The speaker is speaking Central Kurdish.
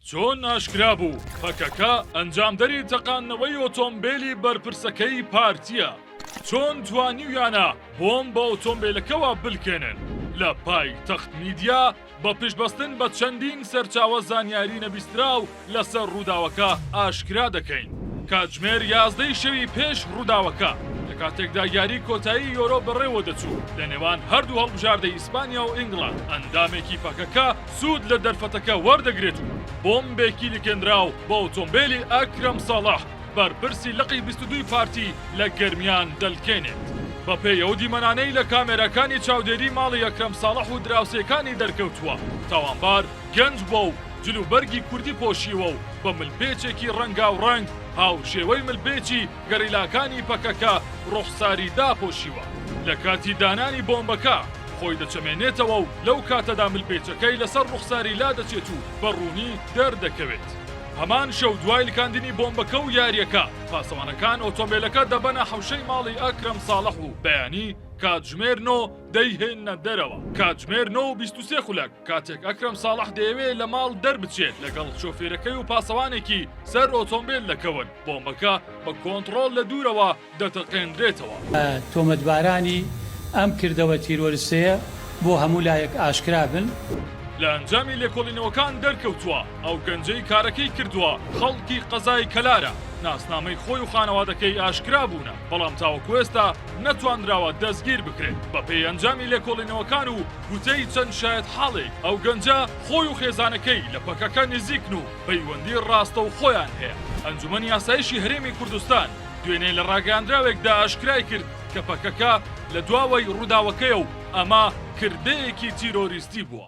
چۆن ئاشکرا بوو، پەکەکە ئەنجامدەری تەقاندنەوەی ئۆتۆمبێلی بەرپرسەکەی پارتییە، چۆن توانیویانە بۆمب بە ئۆتۆمبێلەکەوە بلکێنن؟ لە پایتەخت میدیا، بە پشتبەستن بە چەندین سەرچاوە زانیاری نەبیستراو لەسەر رووداوەکە ئاشکرا دەکەین، کاتژمێر یازدەی شەوی پێش رووداوەکە، لە کاتێکدا یاری کۆتایی یۆرۆ بەڕێوەدەچوو لەنێوان هەردوو هەڵبژاردەی ئیسپانیا و ئینگڵاند، ئەندامێکی پەکەکە، سوود لە دەرفەتەکە وەردەگرێت و بۆمبێکی لکێنراو بە ئۆتۆمبێلی ئەکرەم ساڵح بەرپرسی لقی بیست و دووی پارتی لە گەرمیان دەلکێنێت. بەپێی ئەو دیمەنانەی لە کامێراکانی چاودێری ماڵی ئەکرەم ساڵح و دراوسێکانی دەرکەوتووە، تاوانبار گەنج بووە و جلوبەرگی کوردی پۆشیوە و بە ملپێچێکی ڕەنگاوڕەنگ هاوشێوەی ملپێچی گەریلاکانی پەکەکە ڕوخساری داپۆشیوە، لە کاتی دانانی بۆمبەکە خۆی دەچەمێنێتەوە و لەو کاتەدا ملپێچەکەی لەسەر ڕوخساری لادەچێت و بە ڕوونی دەردەکەوێت. هەمان شەو دوای لکاندنی بۆمبەکە و یارییەکە، پاسەوانەکان ئۆتۆمبێلەکە دەبەنە حەوشەی ماڵی ئەکرەم ساڵح و بەیانی کاتژمێر نۆ دەیهێننە دەرەوە. کاتژمێر نۆ و بیست و سێ خولەک، کاتێک ئەکرەم ساڵح دەیەوێت لە ماڵ دەربچێت، لەگەڵ شۆفێرەکەی و پاسەوانێکی سەر ئۆتۆمبێل دەکەون. بۆمبەکە بە کۆنتڕۆڵ لە دوورەوە دەتەقێندرێتەوە. تۆمەتبارانی ئەم کردەوە تیرۆرستەیە بۆ هەموو لایەک ئاشکرا بن. لە ئەنجامی لێکۆڵینەوەکان دەرکەوتووە، ئەو گەنجەی کارەکەی کردووە خەڵکی قەزای کەلارە، ناسنامەی خۆی و خانەوادەکەی ئاشکرا بوونە، بەڵام تاوەکو ئێستا نەتواندراوە دەستگیر بکرێت، بەپێی ئەنجامی لێکۆڵینەوەکان و گوتەی چەند شایەتحاڵێک ئەو گەنجە خۆی و خێزانەکەی لە پەکەکە نزیکن و پەیوەندی ڕاستەوخۆیان هەیە. ئەنجومەنی ئاسایشی هەرێمی کوردستان دوێنێ لە ڕاگەیاندراوێکدا ئاشکرای کرد کە پەکەکە لە دواوەی ڕووداوەکەیە و ئەمە کردەیەکی تیرۆریستی بووە.